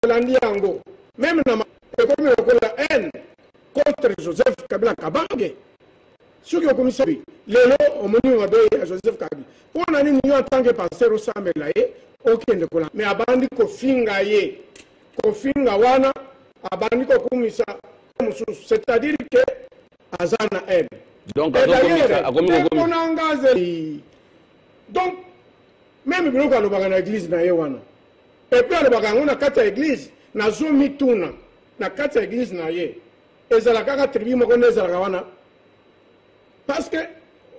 tolandi yango meme na ekomi lokola haine contre joseph kabila kabange soki okomisabi lelo omoni mabe ya joseph kabi mpo na nini yo atanke paster osambela ye okende kola me abandi kofinga ye kofinga wana abandi kokumisa mosusu c'est-à-dire ke aza na haine donc akomikonanga donc meme biloko alobaka na eglise na ye wana Epuis alobaka yango na kati ya eglise nazo mituna na kati ya eglise na ye ezala kaka tribu moko nde ezalaka wana parce que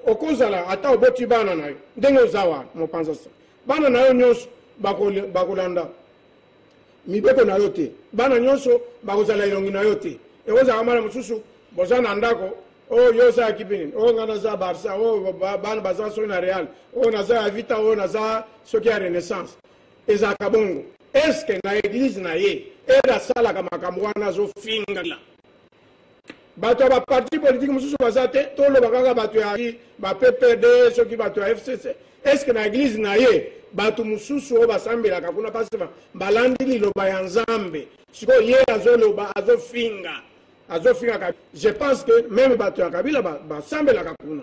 okozala ata oboti bana na yo ndenge oza wana mopanza sa bana na yo nyonso bakolanda mibeko na yo te bana nyonso bakozala elongi na yo te ekozala bana mosusu boza na ndako oh yo oza ya kipe nini oh nga naza barça oh bana baza soki na real oh naza ya vita oh naza soki ya renaissance ezalaka bongo eske na eglize na ye ede asalaka makambo wana azofingala bato ya baparti politike mosusu baza te toloba kaka bato ya bappd soki bato ya fcc eske na eglize na ye bato mosusu oyo basambelaka kuna mpasi balandi liloba ya nzambe sikoyo ye azoloba azofinga azofinga kabila je pense que meme bato ya kabila basambelaka ba kuna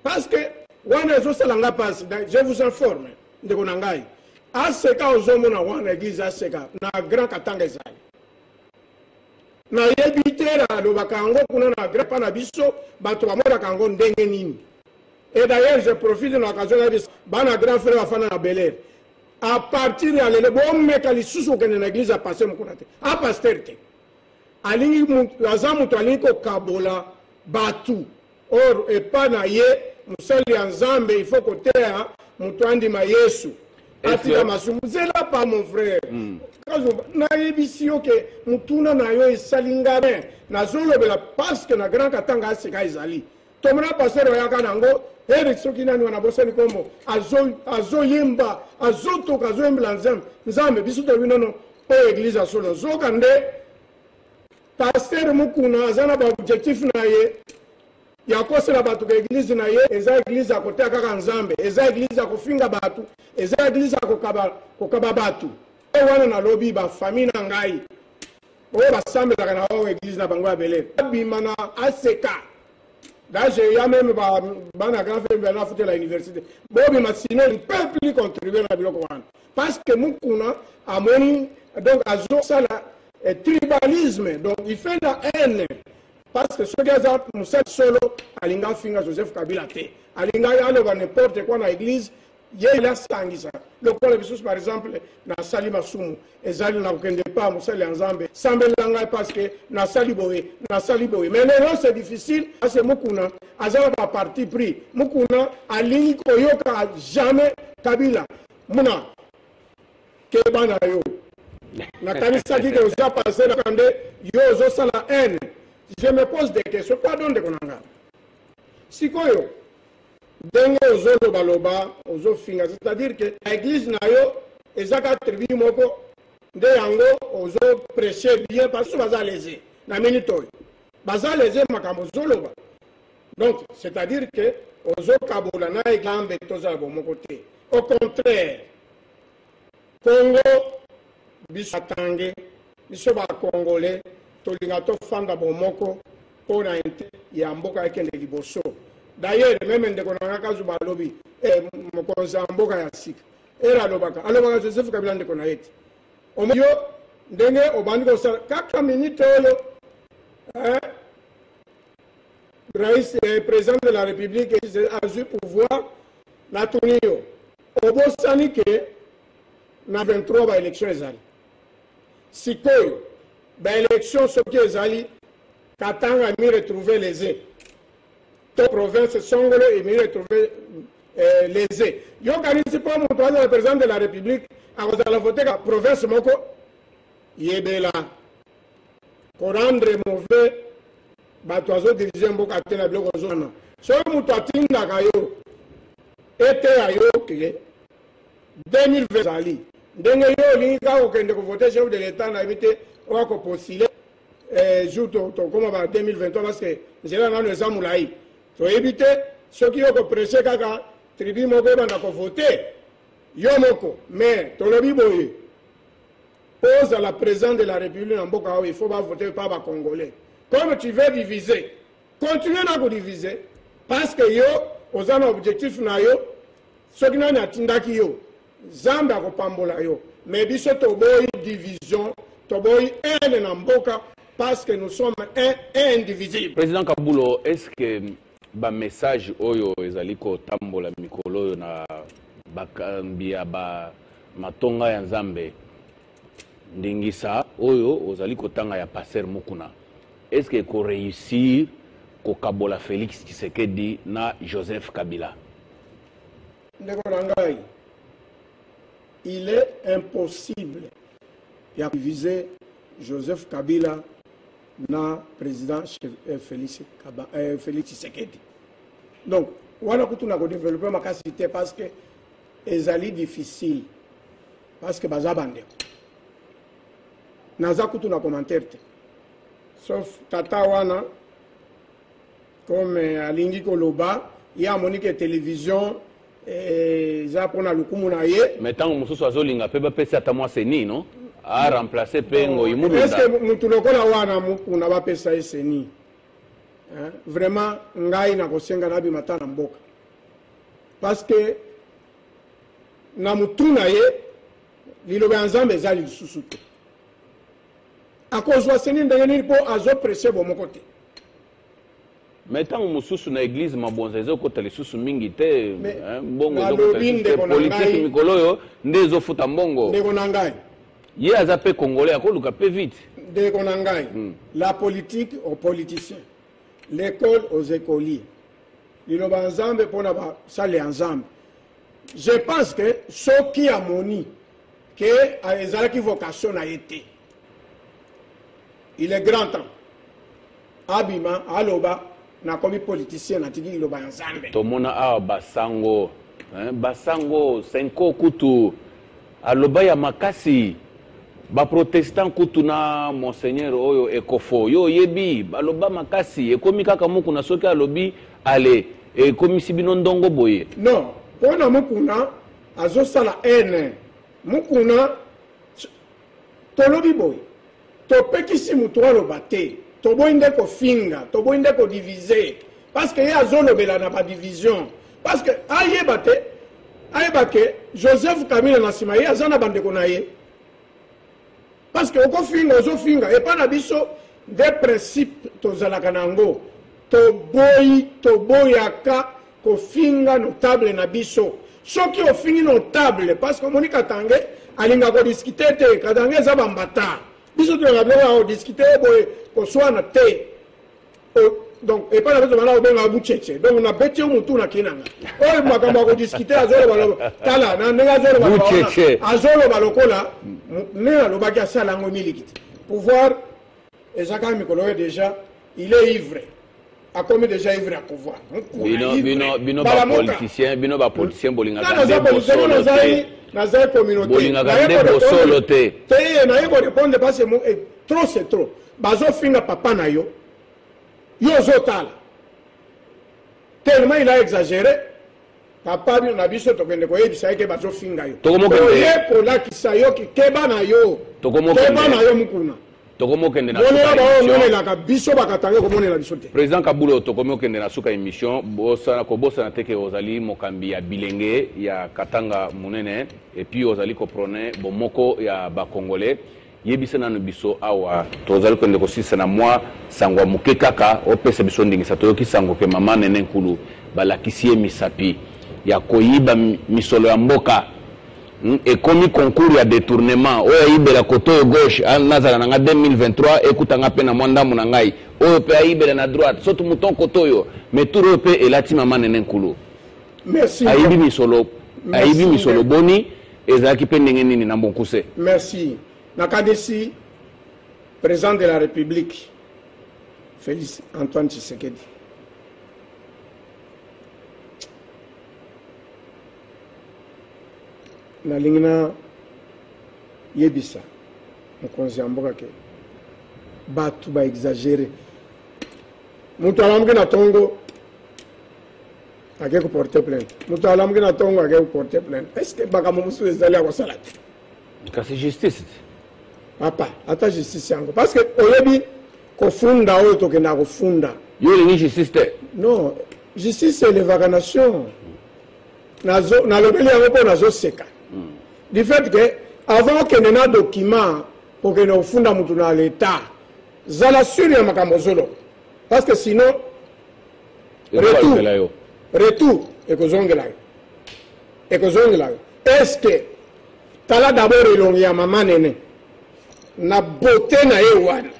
parce que wana ezosala nga mpasi je vous informe ndeko na ngai aseka ozomona wana eglise aseka na grand katanga ezali nayebi te nalobaka yango kuna na grand pa na biso bato bamonaka yango ndenge nini et d'ailleurs je profite na occasion na biso bana grand frère bafanda na belair à partir ya lelo bomeka lisusu kokende na eglise ya paster mokuna te a paster te Alingi mutu aza mutu alingi ko kabola batu or epa na ye mosali ya nzambe il faut ko teya mutu andima yesu atika masumu zela pa mon frère mm. kazomba nayebisi yo ke motuna na yo esali nga bien nazolobela parce que na grand katanga aseka ezali Tomona pasteur oyaka nango Eric soki nani wana bosani kombo azoyemba azotoka azoyembela nzambe nzambe biso toyebi nono oyo eglise ya solo nzoka nde pasteur mukuna aza na baobjectif na ye ya kosela bato ka eglize na ye eza eglize ya koteya kaka nzambe eza eglize ya kofinga bato eza eglize ya kokaba, kokaba bato oyo wana nalobi bafamille na ngai Oyo ba sambelaka na hors eglise na bango ya bele ba bima na ACK D'ailleurs, il y a même bana grand frère bana foutu la université. Bobi ma sinon il ne peut plus contribuer à la biloko wana. Parce que mukuna amoni donc azo sala eh, tribalisme donc il fait la haine parce que soki aza mosali solo alinga afinga joseph kabila te alinga aloba n'importe quoi na église ye il asangisa lokola bisusu par exemple nasali masumu ezali na kokende epa mosali ya nzambe sambela ngai parce que nasali boye nasali boye mais lelo c'est difficile parce que mukuna aza na ba parti pris mukuna alingi koyoka jamais kabila muna keba na yo nakanisaki ke oza passe na kande yo ozosala haine je me pose des questions pardon ndeko na ngai sikoyo Ndenge ozo loba loba ozo finga c'est à dire que na eglise na yo eza ka tribu moko nde yango ozo preche bien basusu baza lese na minute oyo baza lese makambo ozo loba donc c'est à dire que ozo kabola na eglise toza ya bomoko te au contraire Congo biso batange biso ba congole tolinga tofanda bomoko po na intere ya mboka ekende liboso dayere meme ndeko na nga kazuba alobi eh, mokonzi ya mboka ya sika ere alobaka alobaka joseph kabila ndeko na ye te omo yo ndenge obandi kosala kaka minite oyo eh, rais eh, president de la république azwi pouvoir natuni yo Obosani ke na 23 ba election ezali sikoyo ba election soki ezali Katanga emi retrouve lese to province songolo emi retrouve eh, lese yokanisi mpo moto azala president de la republique akozala voteka province moko yebela korendre mauvais bato azo dirige mboka te na biloko ozo wana soki moto atindaka yo eteya yo ke 2020 ezali ndenge yo olingi kaka kokende kovote chef de l'etat nayebi te oyo akopostile eh, jour tokoma ba 2023 parce que nzela nano eza molai toyebi te soki yo kopresse kaka tribu moko ebanda kovote yo moko mais tolobi boye Po ozala president de la republique na mboka oyo il faut ba voter par ba congolais. Comme tu veux diviser, continue na ko diviser parce que yo oza na objectif na yo soki nani atindaki yo zambe akopambola yo mais biso toboyi division toboyi haine na mboka parce que nous sommes un, un indivisible président kabulo est ce que Ba messages oyo ezali kotambola mikolo oyo na bakambi ya ba matonga ya Nzambe, ndingisa oyo ozali kotanga ya Pasteur Mukuna, est-ce que eko reussir kokabola Felix Tshisekedi na Joseph Kabila? Ndeko na ngai, il est impossible ya ko diviser Joseph Kabila na president eh, Felix Kaba eh, Felix Tshisekedi donc wana kutu na ko développer makasi te parce que ezali difficile parce que baza bandeko naza kutu na commentaire te sauf tata wana Comme alingi koloba ye amoni ke television eza eh, mpona lokumu na ye me ntango mosusu azolinga mpe bapesi ata mwa seni no aremplace mpe ngoi mulundaeske motu lokola wana mokuna bapesa ye seni vraiment ngai nakosenga nabima ata na mboka parceke na motu na ye liloba ya nzambe eza lisusu te akozwa seni ndenge nini mpo azoprese bomoko te mais ntango mosusu na eglize mabonza ezokota lisusu mingi te mbongo politike mikolo oyo nde ezofuta mbongo ndeko na ngai ye aza mpe congolais akoluka mpe vite ndeko na ngai hmm. la politique aux politiciens l'école aux écoliers liloba ya nzambe mpo na basali ya nzambe je pense que soki amoni ke ezalaki vocation na ye te il est grand temps Abima aloba nakomi politicien natiki liloba ya Nzambe. Tomona awa basango hein, basango senko kutu aloba ya makasi baprotestant kutu na monseigneur oyo ekofo yo oyebi baloba makasi ekomi kaka mukuna soki alobi ale ekomisi bino ndongo boye non mpo na mukuna azosala ene mukuna Tolobi boye topekisi mutu aloba te toboyi nde kofinga toboyi nde ko divise parce que ye azolobela na ba division parce que ayeba te ayeba ke Joseph Kabila na sima ye aza na bandeko na ye parce que okofinga ozofinga epa na biso nde principe tozalaka na yango Toboyi toboyaka kofinga notable na biso. Soki ofingi notable parce que omoni Katange alinga ko discuter te. Katange eza ba mbata. Biso tolingaka biloko ya ko discuter boye koswana te. donc epai na biso bana kobenga bucheche donc nabeti yo motu na kei na nga oyo makambo ya kodiskute azoloba tala na ndenge azoloba azoloba lokola ndenge alobaki asala yango miliki te pouvoir Eza kaka mikolo oyo deja il est ivre. akomi deja ivre ya pouvoir bala mokapoliticien bino bapoliticien bolingaka nde bosolo te nazali communautebolingaka nde bosolo te te naye korepondre base mo eh, trop c'est trop bazofinga papa na yo yo ozotala tellement il a exagéré Papa bino na biso tokende koyebisa ye ke bazofinga yo. Tokomokende. Oye kolakisa yo ki keba na yo. Tokomokende. Keba na yo mukuna. tokomokende na monela baomonelaka biso bakatanga komonela biso te président kabulo tokomi okende na suka émission bosana kobosana te ke ozali mokambi ya bilenge ya katanga monene epuis ozali koprone bomoko ya bacongolais Yebisa nanu biso awa tozali kende kosilisa na mwa sango ya moke kaka opesa biso ndingisa toyoki sango ke mama nene nkulu balakisi ye misapi ya koyiba misolo ya mboka hmm, ekomi concours ya detournement oyo ayibela kote oyo gauche ah, nazala na nga 2023 ekuta nga mpe na mwa ndambo na ngai oyo mpe ayibela na droite soki mouton kote oyo mais tour oyo mpe elati mama nene nkulu ayibi misolo ayibi misolo boni Ezalaki mpe ndenge nini na mokuse? Merci. Nakanisi President de la Republique, Felix Antoine Tshisekedi, nalingi na yebisa mokonzi ya mboka ke bato baexagere moto alamuki na ntongo ake koporte plainte moto alamuki na ntongo ake koporte plainte est ce que makambo mosusu ezali ya kosala te kasi justice te papa ata justice yango parce que oyebi kofunda oyo tokendaka kofunda yo olingi justice te non justice elevaka nation nalobeli yango mpo nazoseka hmm. du fait que avant okende na document okende kofunda motu na leta zala sure ya makambo ozoloba parce que sinon retour retour ekozongela yo ekozongela yo est ce que tala dabord elongi ya mama nene na bote na ye wana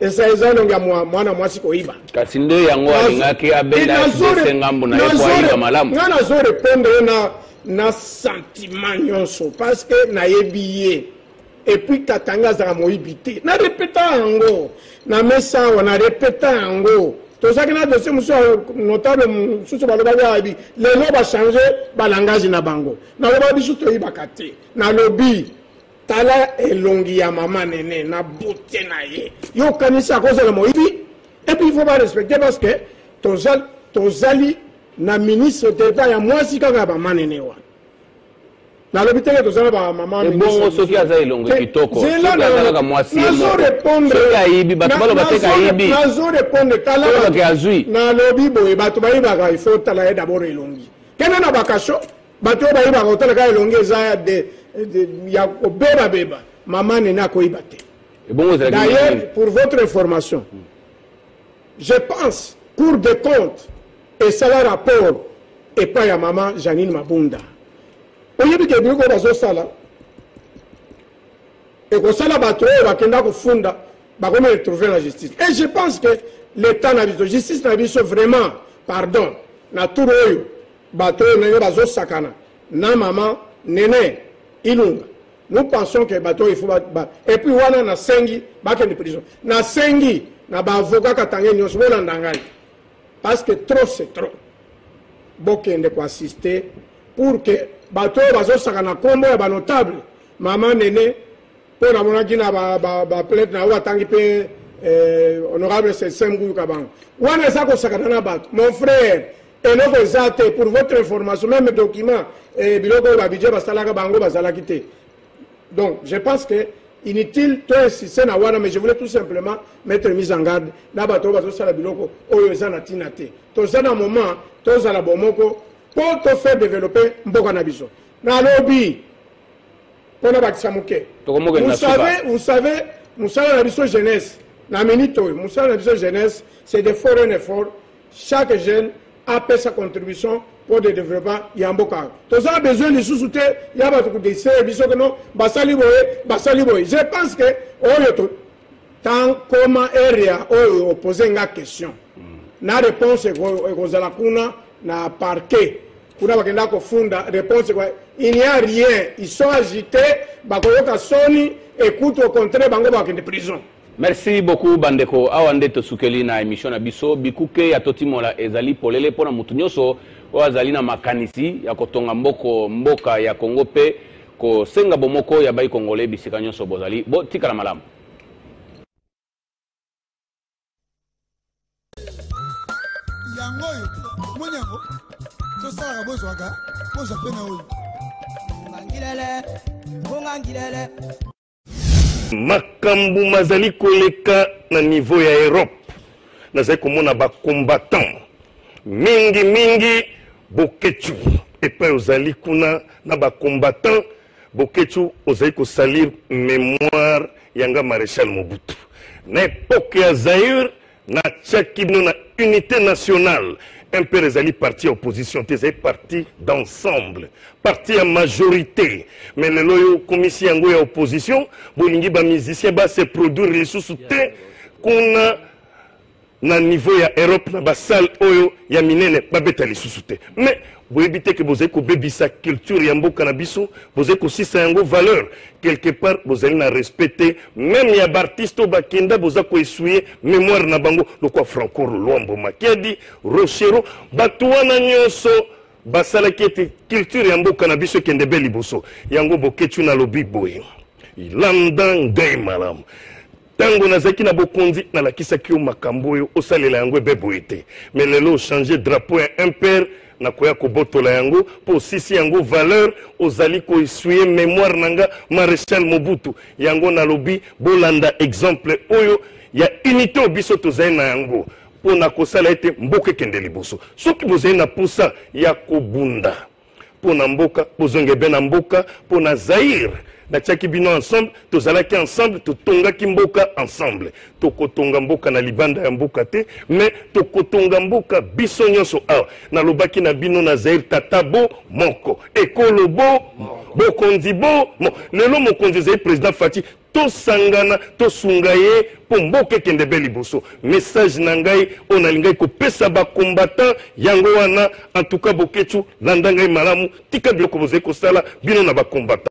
esa eza elongi ya mwana mwasi koyiba kasi nde yango alingaki abendase ngambo na ye po ayiba malamu ngai nazo repondre ye na na sentiment nyonso parce que nayebi ye Et puis Katanga azalaka moyibi te. Na repeta yango. Na mesa awa na repeta yango. Tozaki na dossier mosusu ya notable mosusu balobaki ayebi. Lelo ba changer ba langage na bango. Naloba biso toyibaka te. Nalobi tala elongi ya mama nene na bote na ye. Yo okanisi akozala moyibi? Et puis il faut ba respecter parce que tozali, tozali na ministre d'Etat ya mwasi kaka ya mama nene wana. nalobi teke toza na bamama ebongo soki aza elongo kitoko soki aza kaka mwasi ye mokosoki ayibi bato baloba te kayibi nazo repondre talabake azwi nalobi boye bato bayibaka ifo tala ye dabord elongi kende na bakasho bato oyo bayibaka otala kaka elongi eza ya de ya kobebabeba mama nene akoyiba te ebongo ezalaki d'ailleurs pour votre information hmm. Je pense cour de compte esala rapport epa ya mama Janine Mabunda. Oyebi ke biloko bazosala ekosala bato oyo bakenda kofunda bakomi retrouver na justice et je pense que l'état na biso justice na biso vraiment pardon na tour oyo bato oyo ndenge bazosakana na mama nene ilunga Nous pensons que bato il faut ba, ba. Et puis wana na sengi bakende prison. Na sengi na ba avocat katange nyonso bolanda ngai. Parce que trop c'est trop. Bokende ko assister pour que bato oyo bazosaka na nkombo ya banotable mama nene mpo namonaki na baplainte na yo atangi mpe eh, honorable sesem kuyuka bango wana eza kosakana na bato mon frère Eloko eza te pour votre information meme document eh, biloko oyo babidje basalaka bango bazalaki te donc je pense que inutile to insiste na wana mais je voulais tout simplement mettre mise en garde na bato oyo bazosala biloko oyo eza na ntina te toza na moment tozala bomoko mpo tofaire développer mboka na biso nalobi mpo na bakisa moke vous savez mosala na biso jeunesse na minute oyo mosala na biso jeunesse c'est de foreign effort chaque jeune apesa contribution pour de développement ya mboka toza besoin lisusu te ya bato kodesere biso kono basali boye basali boye je pense que oyo to tan koma area oyo opose nga question mm. na réponse ekozala kuna na parquet kuna bakenda kofunda réponse kwa il n'y a rien ils sont agité bakoyoka soni ekutu au contraire bango bakende prison Merci beaucoup ba ndeko, awa nde tosukeli na emission na biso. Bikuke ya Totimola ezali polele mpo na moto nyonso oyo azali na makanisi ya kotonga mboko mboka ya Congo mpe kosenga bomoko ya bayi Congolais bisika nyonso bozali. Botikala malamu. yango oyo te omoni yango tosalaka bozwaka bozwa mpe na oyo ngangilele ngangilele Makambo mazali koleka na niveau ya Europe, nazali komona ba combattants mingi mingi Boketshu epai ozali kuna na ba combattants Boketshu ozali kosalir memoire ya nga Marechal Mobutu na epoque ya Zaïre Na tiaki bino na unite nationale. MPR ezali parti ya opposition te, ezali parti d'ensemble, parti ya majorite. Mais lelo oyo okomisi yango ya opposition, bolingi ba musiciens ba se produire lisusu te kuna na niveau ya Europe na ba salle oyo ya minene babeta lisusu te. Mais Boyebi te que bozali kobebisa culture ya mboka na biso, bozali kosisa yango valeur. Quelque part bozali na respect te meme ya b'artistes oyo bakenda, boza ko essuyer memoire na bango lokola Franco Luambo Makiadi, Rochereau, batu wana nionso basalaki ete culture ya mboka na biso ekende be liboso. Yango Boketshu nalobi boye, landa ngai malamu. Tango nazaki na bokonzi nalakisaki yo makambo oyo osalela yango ebe boye te mais lelo ochange drapeau ya impere nakoya kobotola yango mpo osisi yango valeur ozali ko essuye memoire na nga marechal mobutu yango nalobi bolanda exemple oyo ya unité oyo biso tozali na yango mpo na kosala ete mboka ekende liboso soki bozali na mposa ya kobunda mpo na mboka bozonge be na mboka mpo na zaire natiaki bino ensemble tozalaki ensemble totongaki mboka ensemble tokotonga mboka na libanda ya mboka te mais tokotonga mboka biso nyonso awa nalobaki na bino na zaire tata bo moko ekolo bo bokonzi bo mo lelo mokonzi ezali président fati Tosangana tosunga ye mpo mboka ekende be liboso. Message na ngai oyo nalingaki kopesa ba combattants yango wana. En tout cas Boketshu landa ngai malamu, tika biloko bozali kosala bino na ba combattants.